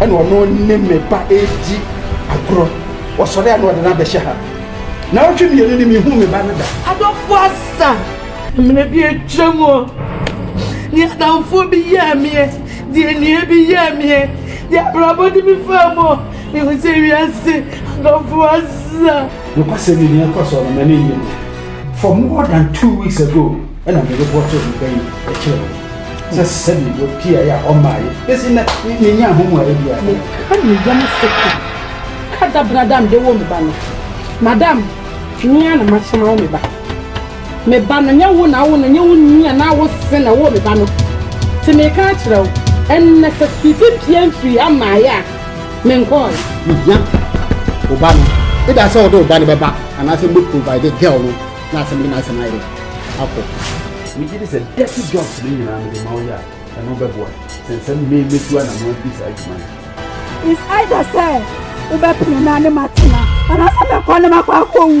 ɛna ɔno ne me ba redi agorɔ ɔsɔre a na ɔde no abɛhyɛ ha na ɔtwe mmienu ne mehu me ba no da adɔfo asa mmerɛ bi atwa mu ɔ ne adamfoɔ bi yɛɛ meɛ deɛ nnua bi yɛɛ meɛ deɛ abrabɔ de bi faa mu ɔ mehu sɛ wiase adɔfo asa nokwasɛ menua kɔ sɔɔ no mane yɛ mu for more than two weeks ago ɛna mede bɔtoo me bɛyi kyerɛ wo sɛ sɛdeɛ wɔpiaeɛ a ɔmmaeɛ ɛsi na menya ho mu a ɛbi a meka ne yam sɛ ka ka da brada mede wo me ba no madam mea na mahyɛma wo me ba me ba no nyɛ wo na wo no nyɛ wo nua na wo se na wo me ba no te meka akyerɛ wo ɛnɛ sɛ biribi pia mfiri amaeɛ a menkɔe mehia wo ba no ɛda sɛ wode wo ba no bɛba anaasɛ mobɛprovide girl no Na asɛm de m'asɛm ayere akɔ. Megye di sɛ dirty jobs no nyinaa mede ma wo yɛ a, ɛno bɛboa sen sɛ me metu anamɔn adi saa adwuma no. It's either sɛ wobɛpene me a ne matena, anaasɛ mɛkɔ ne makɔ akɔwu.